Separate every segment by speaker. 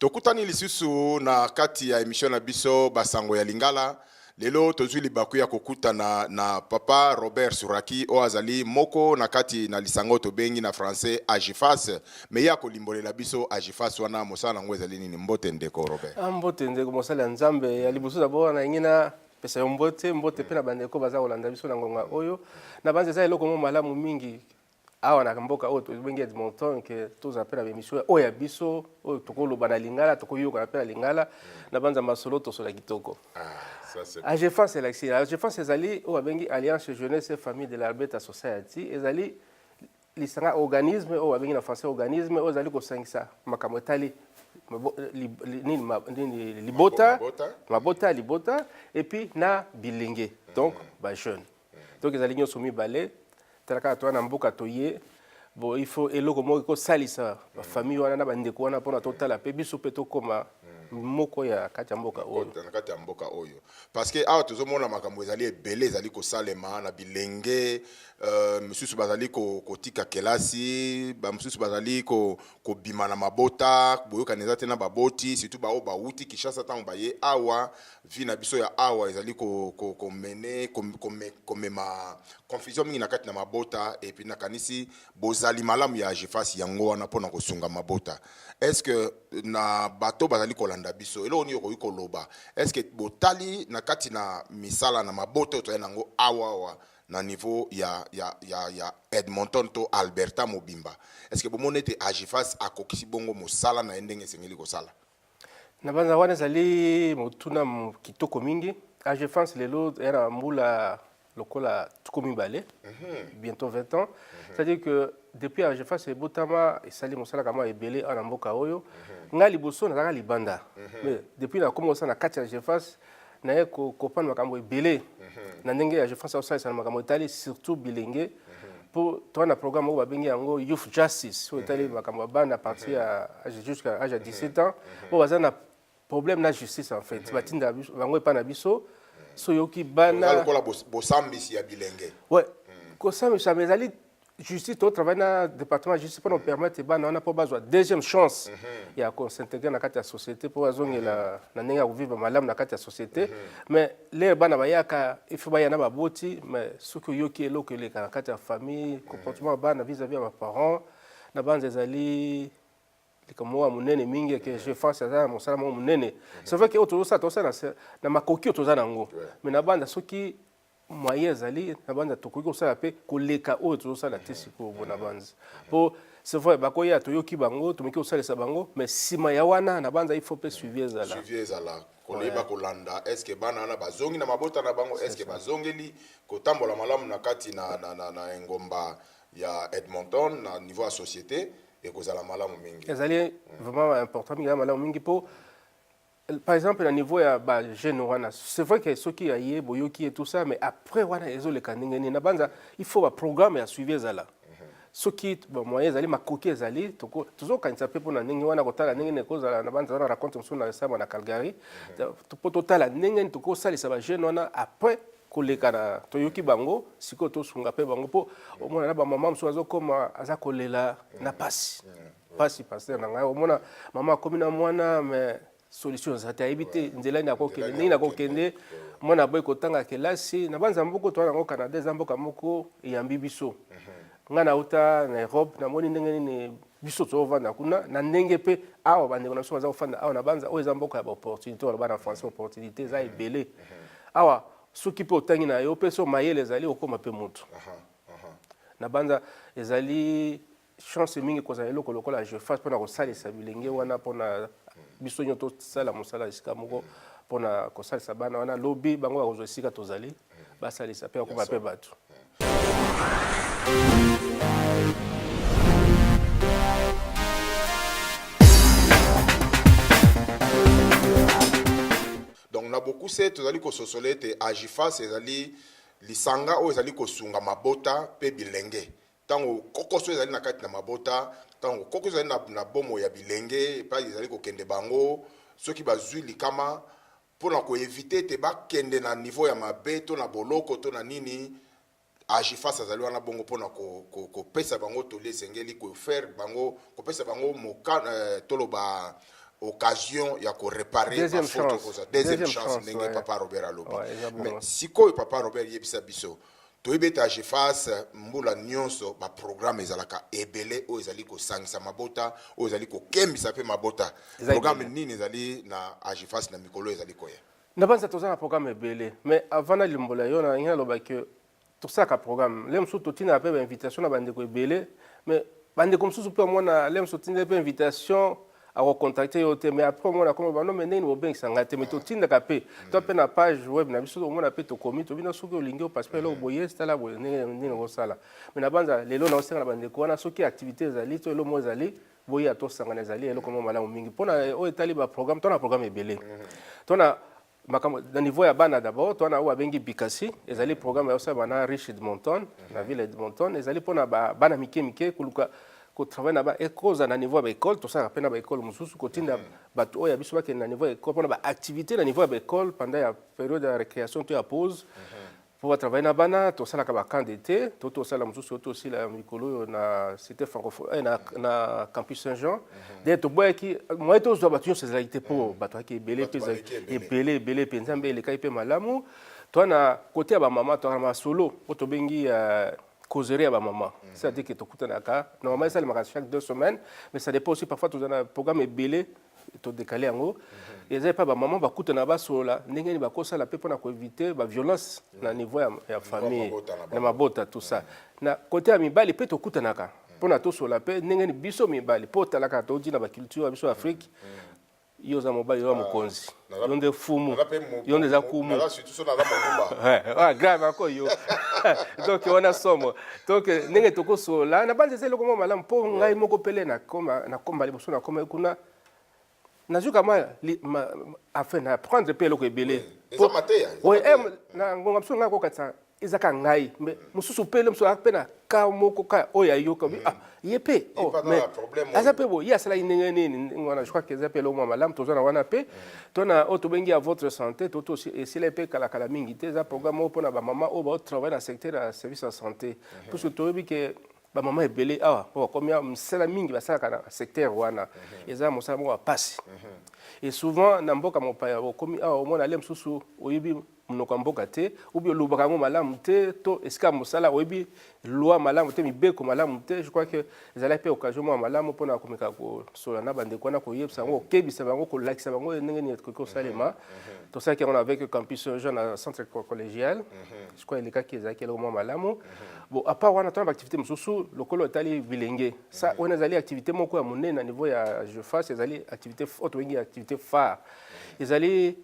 Speaker 1: tokutani lisusu na kati ya emission na biso basango ya lingala lelo tozwi libaku ya kokutana na papa robert suraki oyo azali moko na kati na lisanga oyo tobengi na français agifas mais ye akolimbolela biso agifas wana mosala yango ezali nini mbote ndeko robert ah, mbote ndeko mosali ya
Speaker 2: nzambe ya liboso dabord wana yangi na pesa yo mbote mbote mpe na bandeko baza kolanda biso na ngonga oyo na banza eza eloko moko malamu mingi awa na mboka oyo tobengi edmonton ke tozala mpe na bemission oyo ya biso oyo tokoloba na lingala tokoyokana mpe na lingala na banza masolo tosola kitoko ah, agefance elakisi agefance ezali oyo babengi alliance jeunesse famille de l'alberta society ezali Lisanga organisme oyo babengi na français organisme oyo ezali kosangisa makambo etali libota mabota libota epuis na bilenge donc mm. bajeune mm. donc ezali nyonso mibale tala kaka towana mboka toye bon il faut eloko moko ekosalisa mm. bafamille wana na bandeko wana mpona totala mpe biso mpe tokoma moko ya kati ya mboka oyo na kati ya mboka oyo
Speaker 1: parce que awa tozomona makambo ezali ebele ezali kosalema na bilenge Euh, misusu bazali kotika kelasi bamosusu bazali kobima na mabota boyokani eza te na baboti surtout baoyo bawuti kinshasa ntango baye awa vie na biso ya awa ezali komene komema confusion mingi na kati na mabota epuis nakanisi bozali malamu ya jefasi yango wana mpo na kosunga mabota estce na bato bazali kolanda biso eloko nini okoki koloba estce botali na kati na misala na mabota oyo tozali na yango awa awa na niveau ya, ya, ya, ya Edmonton to Alberta mobimba. Est-ce que bomoni ete Agifas akokisi bongo mosala na ye ndenge esengeli kosala? na banza
Speaker 2: wana ezali motuna kitoko mingi agefance lelo ya na mbula lokola tuku mibale mhm. bientôt 20 ans mhm. c'est-à-dire que depuis agefance ebotama esali mosala kama ebele awa na mboka oyo mhm. ngai liboso nazalaka libanda mais depuis nakomi kosala na kati ya agefance naye kokopana makambo ebele mhm. na ndenge ya je pense akosalisa na makambo etali surtout bilenge mpo mhm. toa na programme oyo babengi yango youth justice oyo etali mhm. makambo ya bana partir ya age jusqu'à age ya 17 ans oyo baza na problème na justice en fait batinda bango epai na biso soyoki bana lokola bosambisi
Speaker 1: ya bilenge ouais
Speaker 2: kosambisa mais ezali justice to travaille na département ya justice mpo na kopermettre bana wana mpo bazwa deuxième chance ya kosintegre na kati ya société mpo bazongela na ndenge ya kovivre malamu na kati ya société mais lere bana bayaka ifi baya na baboti mais soki oyoki eloko eleka na kati ya famille comportement ya bana vis-à-vis ya baparent na banza ezali likambo moko ya monene mingi eke je pense aza na mosala moko monene c'est vrai ke oyo tozosala tozosala na makoki oyo toza na yango mais na banza soki moyen ezali na banza tokoki kosala mpe koleka oyo tozosala te sikoyo mpo na banza mpo c'est vrai bakoya toyoki bango tomeki kosalisa bango mais nsima ya wana na banza il faut mpe suivi ezala suivi ezala
Speaker 1: koyeba kolanda est ce que bana wana bazongi na mabota na bango est ce que bazongeli kotambola malamu na kati na, na, na, na engomba ya edmonton na niveau ya société ekozala malamu mingi ezali vraiment
Speaker 2: important mingi malamu mingi mpo par exemple na niveau ya ba jeune wana c'est vrai que soki ya ye boyoki ye tout ça mais après wana ezoleka ndenge nini nabanza il faut ba programme ya suivi ezala mhm. soki bamoyen ezali makoki ezali tozokanisa mpe mpona ndenge wana kotala ndenge nini ekozala na banza wana raconte mosusu na esama na calgary mhm. mpo totala ndenge nini tokosalisa bajeune wana après koleka na toyoki bango sikoyo tosunga mpe bango mpo omona na bamama mosusu azokoma aza kolela na mpasi mhm. pasi pasteur na ngai omona mama akomi na mwana mais solution eza te ayebi te nzela nini akokende ndenge nakokende mwana aboyi kotanga kelasi na banza moko toa yango canada eza mboka moko eyambi biso mhm. ngai nauta na europe namoni ndenge nini biso tozofanda kuna na ndenge mpe awa bandeko na biso baza kofanda awa na banza oyo eza mboka ya baopportunité waloba na français opportunité eza ebele mhm. awa soki mpe otangi na yo mpe so mayele ezali okoma mpe motu na banza ezali chance mingi kozala eloko lokola jefas mpona kosalisa bilenge wana mpona biso nyo tosala mosala esika moko mpona kosalisa bana wana lobi bango bakozwa esika tozali basalisa mpe bakoma mpe bato
Speaker 1: donc na bokuse tozali kososola ete agifas ezali lisanga oyo ezali kosunga mabota mpe bilenge Ntango kokoso ezali na kati na mabota, ntango kokoso ezali na, na bomoi ya bilenge epai ezali kokende bango, soki bazwi likama mpo na koevite ete bakende na nivo ya mabe to na boloko to na nini, Agifas azali wana bongo mpo na ko, ko, kopesa bango toli esengeli, kofaire bango, kopesa bango moka, eh, toloba occasion ya koreparer Deuxième bafaute chance. okozwa
Speaker 2: deuxième
Speaker 1: Deuxième chance
Speaker 2: chance,
Speaker 1: ndenge ouais. papa
Speaker 2: robert
Speaker 1: alobi
Speaker 2: Ouais,
Speaker 1: eza mais bongo. sikoyo
Speaker 2: papa
Speaker 1: robert yebisa biso toyebi ete ageface mbula nyonso baprograme ezalaka ebele oyo ezali kosangisa mabota oyo ezali kokembisa mpe mabota programe nini ezali na ageface na mikolo oyo ezali koya nabanza toza na
Speaker 2: programe ebele mais avant nalimbola yo nalingi naloba ke tosalaka programe le mosusu totinaka mpe bainvitation na bandeko ebele mais bandeko mosusu mpe omona le mosusu otindeli mpe invitation akocontacte yo te mais après omona komi bano me ndenge bobengisa ngai te me totindaka mpe to mpe na page web na biso omona mpe tokomi tobina soki olingi opasi mpe eloko boye tala boye ndenge nini okosala me nabanza lelo naosenga na bandeko wana soki activité ezali to eloko moko ezali boya tosangana ezali eloko moko malamu mingi mpo na oyo etali baprogramme to na programme ebele to na makambo na niveau ya bana d'abord twana oyo babengi bikasi ezali programme ya osalema na riche edmonton na ville ya edmonton ezali mpona bana mike mike koluka kotravaille na ba ekozala na niveau ya baekole tosalaka mpe na baekole mosusu kotinda mm. bato oyo ya biso bakende na niveau ya ekole mpona baactivité na niveau ya baekole pendant ya periode ya récréation to ya pause mm-hmm. mpo ba travailler na bana tosalaka ba camp d'été to tosala mosusu oyo tosila mikolo oyo na cité francophone eh, na, na campus saint jean mhm. de toboyaki moye tozwa bato nyonso ezalaki te mpo mhm. bato yaki ebele mpe ebele ebele mpe nzambe elekaki mpe malamu toa na kote ya bamama toaka na masolo oyo tobengi euh, causerie ya bamama mhm. c'est-à-dire ke tokutanaka normalement esalemaka chaque deux semaines mais ça dépend aussi parfois toza na programme ebele to décaler yango eza epai bamama bakutana basolola ndenge nini bakosala mpe mpo na koevite baviolence na niveau ya, ya famille na mabota tout ça na kote ya mibali mpe tokutanaka mpo na tosolola mpe ndenge nini biso mibali mpo otalaka touti na baculture ya biso ya afrique yo oza mobali oza mokonzi yo nde fumu yo nde eza kumu grave ako yo donc wana somo donc ndenge tokosolola na banza eza eloko moko malamu mpo ngai moko pele nakomba liboso nakomaki kuna nazwi kama afin na apprendre mpe eloko ebele na ngonga mosusu ngai akokatisa eza ka ngai mais mosusu mpe mosusu aza mpe na ka moko ka oyo oh, ayoka mm. ah, ye mpe oh, aza mpe boye ye asalaki ndenge nini ndenge wana je crois que eza mpe eloko mwa malamu toza na wana mpe mm. to na oyo oh, tobengi ya votre santé to to esila mpe kalakala mingi te eza programme oyo mpo na bamama oyo baotravaille na secteur ya service ya santé mm-hmm. puisque toyebi ke bamama ebele awa mpo bakomi misala mingi basalaka na secteur wana mm-hmm. eza mosala moko ya mpasi mm-hmm. et souvent na mboka mopaya okomi awa omona ale mosusu oyebi monoko ya mboka te ou bien olobaka yango malamu te to esika ya mosala oyebi loi malamu te mibeko malamu te je crois que ezalaki mpe occasion moko malamu mpona komeka kosolola na bandeko wana koyebisa bango kokebisa bango kolakisa bango ndenge nini ekoki kosalema mhm, mhm. tosalaki yango avec campus jeune na centre collégial mhm. je crois elekaki ezalaki eloko mwa malamu bon apart wana tona baactivité mosusu lokolo etali bilenge sa wana ezali activité moko ya monene na niveau ya jeface ezali activité oyo tobengi activité phare ezali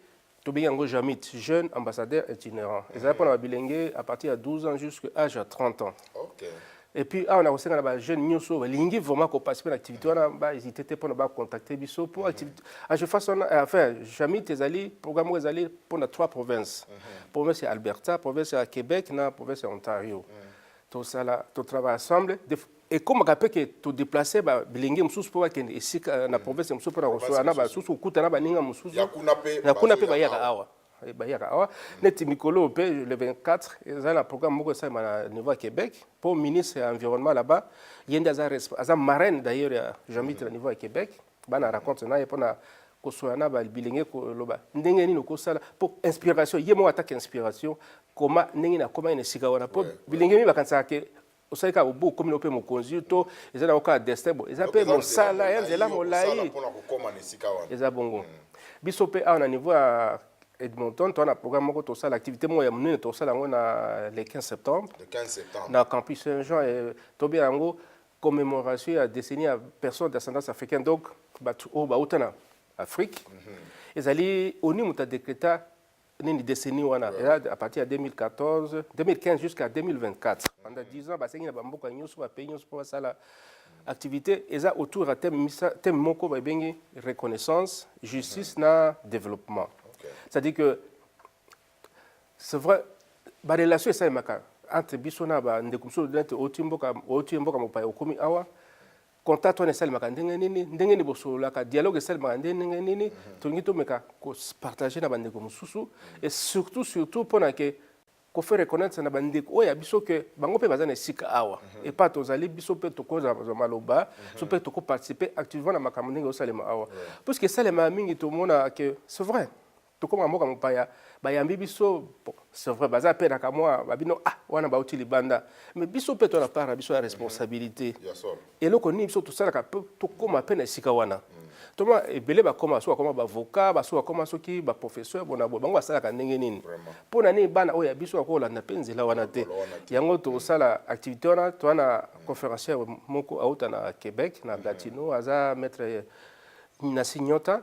Speaker 2: tobengi yango jamit jeune ambassadeur itinérant ezali mpona babilenge à partir ya 12 ans jusqu'à âge ya 30 ans okay. et
Speaker 1: puis awa na
Speaker 2: kosenga na bajeune nyonso oyo balingi vraiment koparticipe na activité wana bahésite te mpona bacontacte biso mpo ageface mhm. wana enfin jamit ezali programme oyo ezali mpona trois provinces mhm. province ya alberta province ya québec na province ya ontario mhm. tosala totravaille ensemble ekomaka mpe ke to deplacer ba bilenge mosusu mpo bakende esika euh, na mm. province mosusu mpo na kosola na basusu kokuta na baninga mosusu na kuna mpe bayaka awa eh, bayaka awa mm. neti mikolo mpe le 24 eza na programme moko esalema na niveau ya québec mpo ministre ya environnement là-bas ye nde aza marraine d'ailleurs ya jambit na mm. niveau ya québec bana raconte na ye mpo na kosola na bilenge koloba ndenge nini okosala mpo inspiration ye moko ataka inspiration koma ndenge nakomaki na esika wana mpo bilenge nini bakanisaka ke osali kaka obu okomi mpe mokonzi to eza na kaka destin bo eza mpe mosala ya nzela molai eza bongo mm. biso mpe awa na niveau ya edmonton toa na programme moko tosala activité moko ya monene tosala yango na le 15 septembre na campus saint jean eh, tobenga yango commémoration ya décennie ya personne d'ascendance africaine donc bato oyo bauta na afrique mm -hmm. ezali oni moto adekreta nini décennie wana a partir ya 2014 2015 jusqu'à 2024 pendant 10 ans basengi na bamboka nyonso bapays nyonso mpo basala activité eza autour ya thème thème moko babengi reconnaissance justice mhm. na développement c'est à dire que c'est vrai barelation esalemaka entre biso na bandeko mosusu nete oti mboka mopaya okomi awa contact wana esalemaka ndenge nini ndenge nini bosololaka dialogue esalemaka nde ndenge nini mhm. tolingi tomeka kopartage na bandeko mosusu et surtout surtout mpona ke kofaire reconnaître na bandeko oyo ya biso ke bango mpe baza na esika awa mhm. epa tozali biso mpe tokozwa maloba mhm. biso mpe tokoparticipe activement na makambo ndenge osalema awa puiske esalemaka mingi tomona ke c'est vrai tokoma mboka mopaya bayambi biso bon, c'est vrai baza mpe na kamwa babino ah wana bauti libanda mais biso mpe to na part na biso ya mhm. responsabilité eloko nini biso tosalaka mpe tokoma mpe na esika wana mhm. toma ebele bakoma soki bakoma bavoka basoki bakoma soki baprofesseur bona boye bango basalaka ndenge nini mpo na nini bana oyo ya biso bakoki kolanda mpe nzela wana te yango tosala mhm. activité wana toa na conférencier moko auta na québec na latino aza maître na signota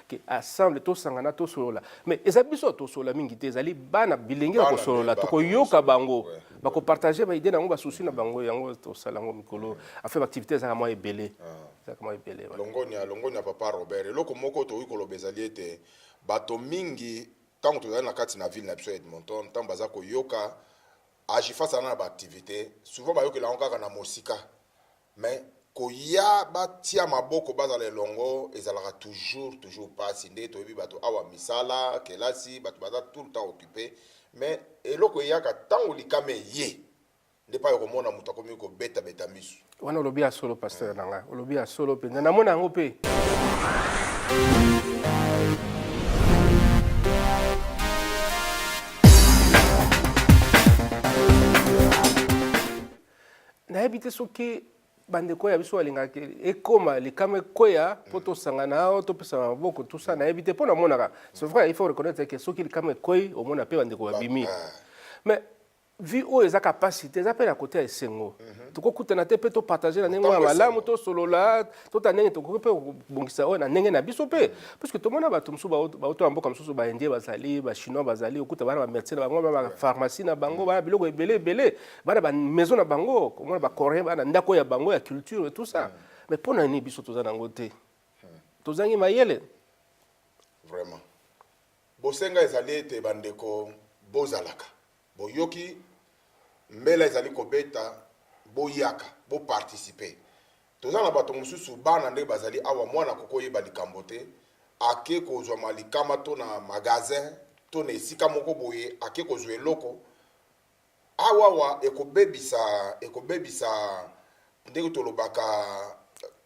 Speaker 2: que ensemble tosangana tosolola mais eza biso ya tosolola mingi te ezali bana bilenge ya kosolola tokoyoka bango bakopartage baide na yango basusi na bango yango tosala yango mikolo afe baactivité ezalaka mwa ebele ah. ezalaka mwa ebele longonia longonia
Speaker 1: papa robert eloko moko tokoki koloba ezali ete bato mingi ntango tozali na kati na ville na biso ya edmonton ntango baza koyoka agifasana na baactivité souvent bayokela yango kaka na mosika Mais koya batia maboko bazala elongo ezalaka toujours toujours pasi nde toyebi bato awa misala kelasi bato baza tout le temps occupe mais eloko eyaka ntango likama eye nde pai okomona moto akomi kobetabeta miso wana olobi ya solo
Speaker 2: pasteur na ngai olobi ya solo mpenza namona yango mpe nayebi te soki bandeko ya biso balingaka ekoma likama ekweya mpo mm. tosangana o topesana maboko tusa nayebi te mpo namonaka c'est vrai il faut reconnaître ke soki likama ekwei omona mpe bandeko babimi mais vie oyo eza kapasite eza mpe na kote ya esengo mhm. tokokutana te mpe topartage na ndenge ya malamu tosolola tota ndenge tokoki mpe kobongisa oyo na ndenge na biso mpe mhm. puiske tomona bato mosusu bauto ya mboka mosusu baindien bazali bachinois bazali okuta bana bamerce na bango bapharmacie na bango mhm. bana biloko ebele ebele bana ba maison na bango komona ba coréen bana ndako ya bango ya culture et tout ça mais pona nini biso toza nango te tozangi mayele
Speaker 1: vraiment bosenga ezali ete bandeko bozalaka boyoki mbela ezali kobeta boyaka boparticipe toza na bato mosusu bana nde bazali awa mwana kokoyeba likambo te ake kozwa malikama to na magasin to na esika moko boye ake kozwa eloko Awa awa ekobebisa ekobebisa ndenge tolobaka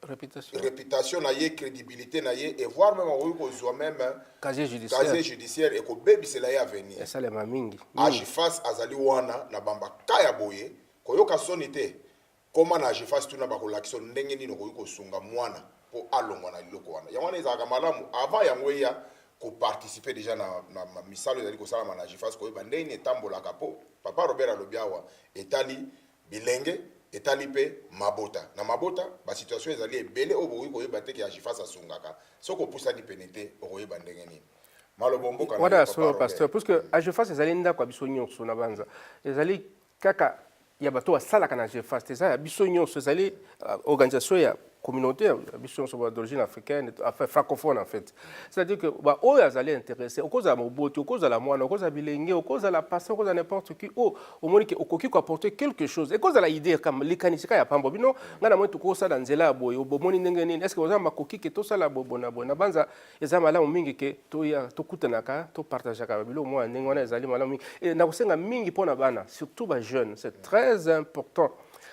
Speaker 1: reputation, reputation na ye credibilité na ye et voir même akoki kozwa même casier judiciaire,
Speaker 2: casier judiciaire
Speaker 1: ekobebisela ye avenir esalema mingi
Speaker 2: age face azali
Speaker 1: wana na bambaka ya boye koyoka soni te Koma na Agefas tuna bakolakisa yo ndenge nini okoki kosunga mwana mpo alongwa na eloko wana. Yango wana ezalaka malamu avant yango eya ko participer deja na, na, na misala ezali kosalama na Agefas koyeba ndenge nini etambolaka mpo Papa Robert alobi awa etali bilenge etali mpe mabota na mabota ba situation ezali ebele oyo bokoki koyeba te ke Agefas asungaka soki opusani pene te okoyeba ndenge nini maloba omboka na yo, wana ya Papa solo Robert. pasteur puisque
Speaker 2: agefas ezali ndako ya biso nyonso na banza ezali kaka ya bato basalaka na GFAST eza ya biso nyonso ezali euh, organisation ya communauté ya biso nyonso d'origine africaine enfin francophone en fait c'est-à-dire que ba oyo azali intéressé okozala moboti okozala mwana okozala bilenge okozala passant okozala n'importe qui o oh, omoni ke okoki ko apporter quelque chose ekozala idée kama likanisi ka ya pambo bino ngai namoni tokosala nzela ya boye bomoni ndenge nini est-ce que oza makoki ke tosala boye boye na boye na banza eza malamu mingi ke toya tokutanaka topartageaka biloko moko ya ndenge wana ezali malamu mingi e, na kosenga mingi mpo na bana surtout ba jeunes c'est très important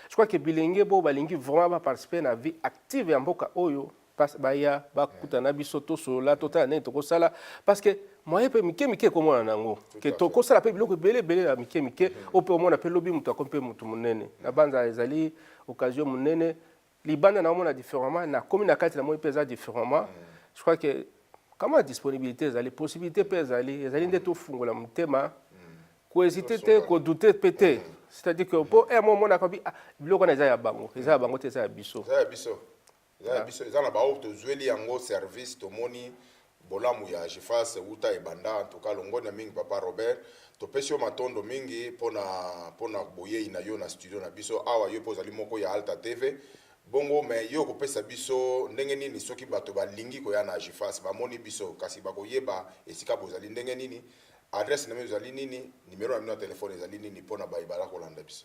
Speaker 2: je crois ke bilenge bo balingi vraiment baparticipe na vie active ya mboka oyo baya bakuta na biso tosolola totala ndenge tokosala parce que moye mpe mike mike ekomona na yango ke tokosala mpe biloko ebele ebele ya mike mike oyo mpe omona mpe lobi moto akomi mpe moto monene na banza ezali occasion monene libanda naomona différemment nakomi na kati namoni mpe eza différemment je crois que kama disponibilité ezali possibilité mpe ezali ezali nde tofungola motema kohésite te kodoute mpe te c'est-à-dire que mpo emo eh, omonaka bi ah, biloko wana eza ya bango eza ya bango te eza ya biso eza ya
Speaker 1: biso eza na baoyo tozweli yango service tomoni Bolamu ya Agifas wuta ebanda en tout cas longonya mingi papa Robert topesi yo matondo mingi pona pona boyeyi na yo na studio na biso awa yo pe ozali moko ya Alta TV bongo mais yo okopesa biso ndenge nini soki bato balingi koya na Agifas bamoni biso kasi bakoyeba esika bozali ndenge nini adresse na bino ezali nini numero na bino ya telephone ezali nini pona baye baza kolanda biso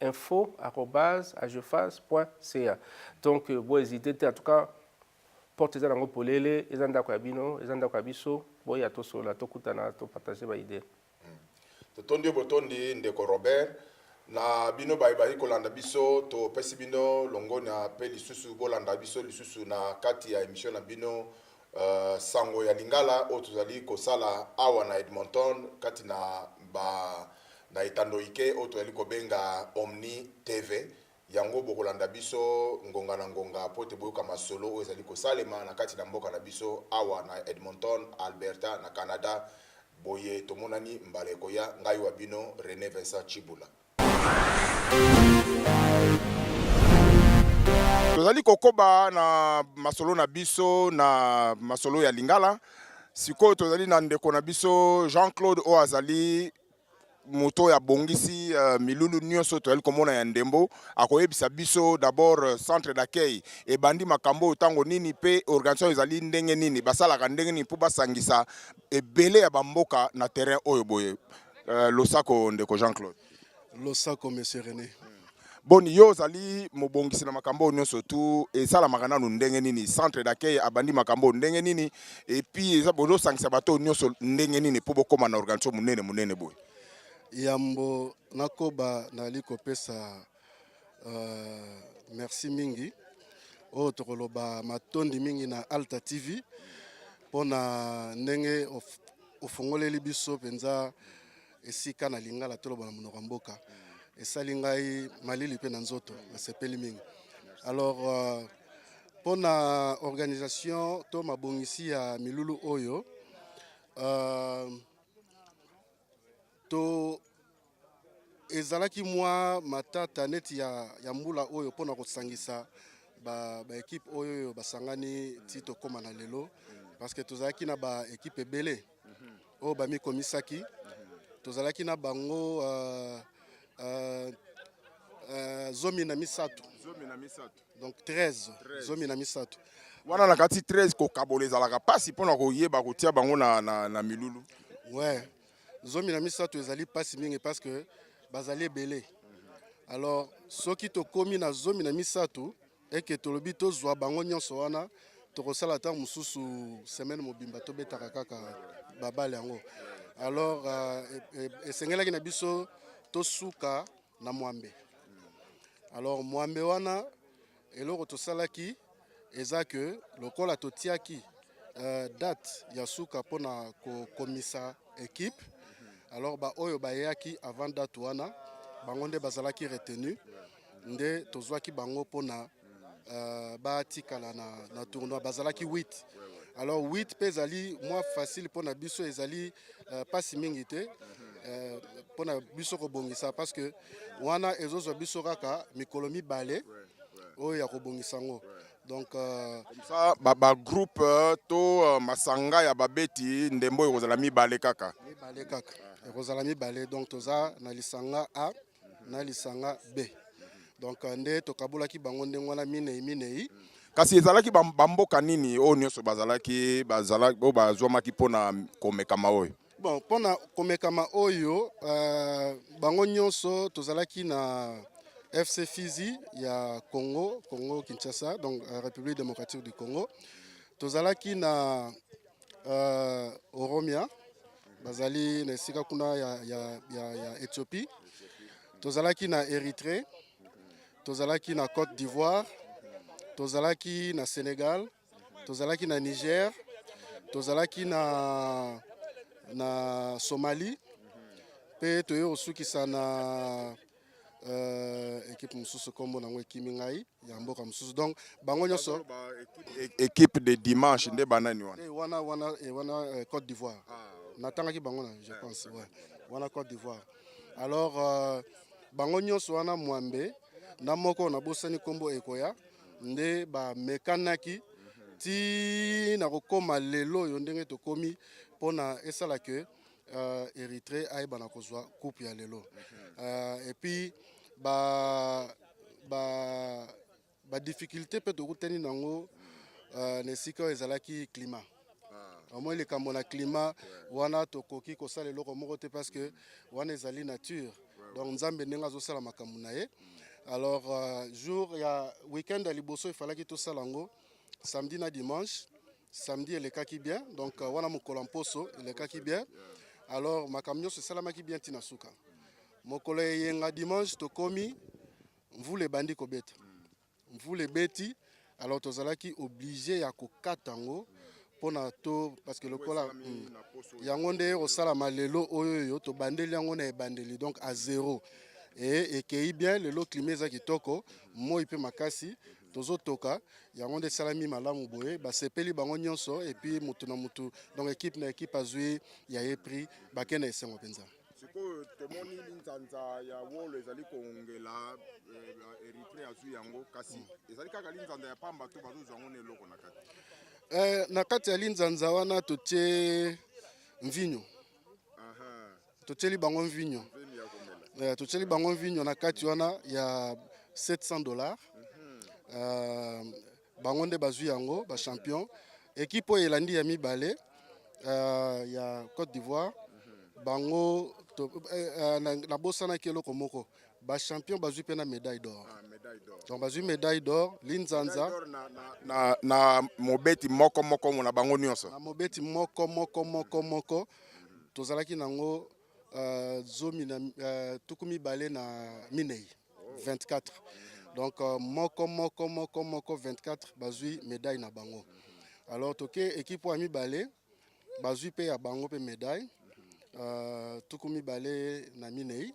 Speaker 2: info arobase agefas point ca donc euh, bo hésite te en tout cas porte eza nango polele eza ndako ya bino eza ndako ya biso boya tosola tokutana topartage baide hmm. totondi
Speaker 1: yo botondi ndeko robert na bino baye bazali kolanda biso topesi bino longonya mpe lisusu bolanda biso lisusu na kati ya emission na bino Uh, sango ya lingala oyo tozali kosala awa na edmonton kati na ba na etando ike oyo tozali kobenga omni tv yango bokolanda biso ngonga na ngonga mpo te boyoka masolo oyo ezali kosalema na kati na mboka na biso awa na edmonton alberta na canada boye tomonani mbala ekoya ngai wa bino rene vincent chibula Tozali kokoba na masolo na biso na masolo ya Lingala. Sikoyo tozali na ndeko na biso Jean-Claude oyo azali moto oyo abongisi uh, milulu nyonso toyali komona ya ndembo akoyebisa biso d'abord euh, centre d'accueil ebandi makambo oyo ntango nini mpe organisation ezali ndenge nini basalaka ndenge nini mpo basangisa Ebele ya ba mboka na terrain oyo boye. Euh, losako ndeko Jean Claude. Losako
Speaker 3: monsieur René. Boni yo
Speaker 1: ozali mobongisi na makambo oyo nyonso tu esalamaka nanu ndenge nini centre d'accueil abandi makambo oyo ndenge nini epuis eza bozosangisa bato oyo nyonso ndenge nini mpo bokóma na organisation monene monene boye yambo
Speaker 3: nakoba nali kopesa Euh, merci mingi oyo tokoloba matondi mingi na Alta TV mpo na ndenge ofungoleli biso mpenza esika na lingala toloba na monoko ya mboka esali ngai malili mpe na nzoto nasepeli mingi alors euh, mpo na organisation to mabongisi ya milulu oyo uh, to Ezalaki mwa matata neti ya, ya mbula oyo mpo na kosangisa ba, ba ekipe oyo oyo basangani ti tokoma na lelo parce que tozalaki na ba ekipe ebele oyo bamikomisaki tozalaki na bango uh, uh, uh, zomi na misato zomi na misato donc 13 zomi na misato wana na kati
Speaker 1: 13 kokabola ezalaka mpasi mpo na koyeba kotia bango na, na, na milulu ouais
Speaker 3: zomi na misato ezali mpasi mingi parce que bazali ebele alors soki tokomi na zomi na misato eke tolobi tozwa bango nyonso wana tokosala ntango mosusu semaine mobimba tobetaka kaka babale yango alors euh, e, e, esengelaki na biso tosuka na mwambe alors mwambe wana Eloko tosalaki eza ke lokola totiaki uh, date ya suka mpo na kokomisa ekipe alors baoyo bayaki avant date wana bango nde bazalaki retenu nde tozwaki bango mpo na uh, batikala na, na tournoi bazalaki 8 alors 8 mpe ezali mwa facile mpo na biso ezali uh, pasi mingi te uh, mpo na biso kobongisa parce que wana ezozwa biso kaka mikolo mibale oyo ya kobongisa yango donc euh, ça
Speaker 1: ba, ba groupe euh, to euh, masanga ya babeti ndembo ekozala mibale kaka mibale kaka ekozala
Speaker 3: mibale donc toza na lisanga a na lisanga b donc nde tokabolaki bango ndenge wana minei minei kasi ezalaki
Speaker 1: bamboka nini oyo nyonso bazalaki bazala oyo bazwamaki mpo na komekama oyo Bon, mpo na
Speaker 3: komekama oyo euh, bango nyonso tozalaki na FC Fizi ya Congo, Congo Kinshasa, donc euh, République démocratique du Congo. Tozalaki na euh, Oromia, bazali na esika kuna ya, ya, ya, ya Ethiopie. Tozalaki na Erythrée, tozalaki na Côte d'Ivoire, tozalaki na Sénégal, Tozalaki na Niger, tozalaki na, na Somalie mpe toye kosukisa na euh, ekipe mosusu nkombo nango ekimi ngai ya mboka mosusu donc bango nyonso ekipe
Speaker 1: de dimanche nde banani wana eh, wana wana eh, wana euh,
Speaker 3: Côte d'Ivoire ah, okay. natangaki bango na je eh, pense ouais. wana Côte d'Ivoire alors euh, bango nyonso wana mwambe na moko nabosani nkombo ekoya nde bamekanaki ti na kokoma lelo oyo ndenge tokomi mpo na esala ke uh, Eritrea ayeba na kozwa coupe ya lelo uh, et puis ba ba ba difficulté mpe tokutani nango uh, na esika oyo ezalaki climat omoi likambo na climat wana tokoki kosala eloko moko te parce que wana ezali nature donc nzambe ndenge azosala makambo na ye alors euh, jour ya week-end ya liboso efalaki tosala yango samedi na dimanche samedi elekaki bien donc euh, wana mokolo ya mposo elekaki bien alors makambo nyonso esalamaki bien ntina suka mokolo ya eyenga dimanche tokomi mvula ebandi kobeta Mvula ebeti alors tozalaki oblige ya kokata yango mpona to parce que lokola hmm, yango nde ekosalama lelo oyo oyo tobandeli yango na ebandeli donc a zero e ekei bien lelo klima eza kitoko moi mpe makasi tozotoka yango nde esalami malamu boye basepeli bango nyonso epuis motu na motu donc ekipe na ekipe azwi ya ye prix bakei na esengo mpenza sikoyo tomoni
Speaker 1: linzanza ya wolo ezali kongela eh, eritre azwi yango kasi ezali kaka linzanza ya pamba to bazozwa yango na eloko na kati eh, na kati ya linzanza
Speaker 3: wana totie mvinyo totieli bango mvinyo eh, totieli bango mvinyo na kati wana ya 700 dollars mhm. eh, Bango nde bazwi yango ba champion. Ekipe oyo elandi ya mibale uh, ya Côte d'Ivoire bango to, eh, eh, na, na bosana kelo komoko ba champion bazui pena médaille d'or ah, donc bazui médaille d'or linzanza na, na, na,
Speaker 1: na mobeti moko moko na bango nyonso na mobeti moko
Speaker 3: moko moko moko tozalaki nango uh, zomi na uh, tuku mibale na minei 24 donc euh, moko moko moko moko 24 bazui médaille na bango alors toke équipe oyo ya mibale bazui mpe ya bango mpe médaille euh, tuku mibale na minei